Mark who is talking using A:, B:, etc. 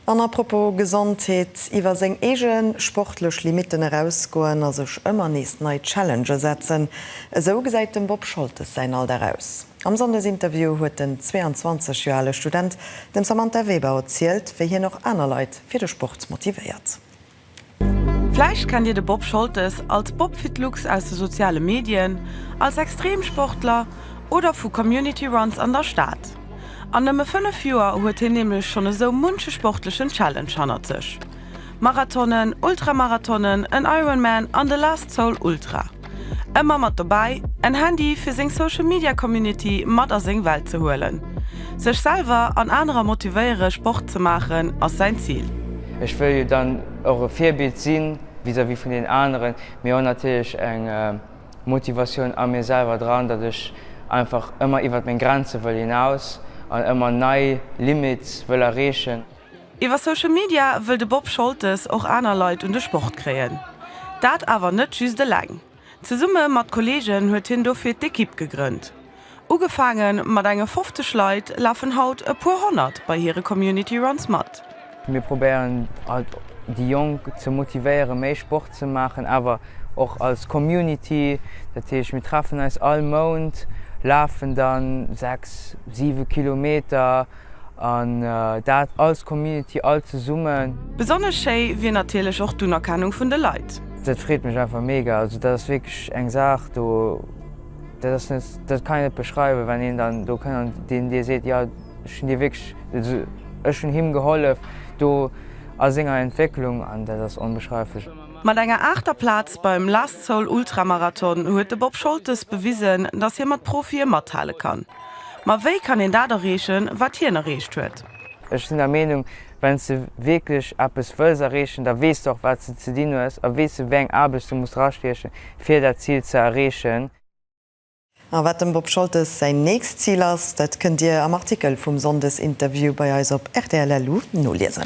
A: An à propos Gesondheet, iwwer seng eege sportlech Limitten erausgoen a sech ëmmer nees nei Challenge setzen, esou gesäit dem Bob Scholtes säin Alldag aus. Am Sonndesinterview huet den 22 Joer ale Student dem Samantha Weber erzielt, wéi hien och aner Leit fir de Sport motivéiert.
B: Vläicht kennt Dir de Bob Scholtes als Bobfitlux aus de soziale Medien, als Extremsportler oder vu Community Runs an der Stad. An nëmme 5 Joer huet hien nämlech schonn esou munche sportlechen Challenge hannert sech, Marathonen, Ultramarathonen, en Ironman an de Last Soul Ultra. Ëmmer mat dobäi, en Handy fir seng Social Media Community mat a seng Welt ze huelen. Sech selwer an anerer motivéiere Sport ze maachen ass säin Zil. Ech wëll jo dann
C: och e Virbild si vis-à-vis vun den aneren, mee och natierlech eng Motivatioun a mir selwer dran, datt ech einfach ëmmer iwwert meng Grenze wëll hinaus an ëmmer nei Limite wëll erreechen. Iwwer Social
B: Media wëll de Bob Scholtes och aner Leit un de Sport kréien. Dat awer net just eleng. Zesumme mat Kolleegen huet hien dofir d'Ekipp gegrënnt. Ugefaange mat enge 50 Leit lafen haut e puer honnert bei hire Community Runs mat. Mir probéieren
C: halt déi Jonk ze motivéiere méi Sport ze maachen, awer och als Community. Dat heescht mir treffen eis all Mount, lafen dann 6, 7 Kilometer. An dat als Community all zesummen. Besonnesch schéi
B: wier natierlech och d'Unerkennung vun de Leit. Dat freet mech einfach
C: mega. Also dat ass wierklech eng Saach do, dat ass net, dat kann een net beschreiwen, wann een dann do kënnt an deen dir seet, jo ech hunn dir wierklech, also ech hunn him gehollef do a senger Entwécklung an dat ass onbeschreiflech. Mat enger aachter
B: Plaz beim Last Soul Ultramarathon huet de Bob Scholtes bewisen, dass hie mat Profie mathale kann. Ma wéi kann een dat erreechen, wat hien erreecht huet? Ech sinn der Meenung,
C: Wenn s de wierklech eppes wëlls erreechen, da weess de och, wat s de ze dinn hues a weess, wéi eng Aarbecht de muss drastiechen, fir dat Zil ze erreechen.
A: A wat dem Bob Scholtes säin nächst Zil ass, dat kënnt Dir am Artikel vum Sonndesinterview bei eis op rtl.lu noliesen.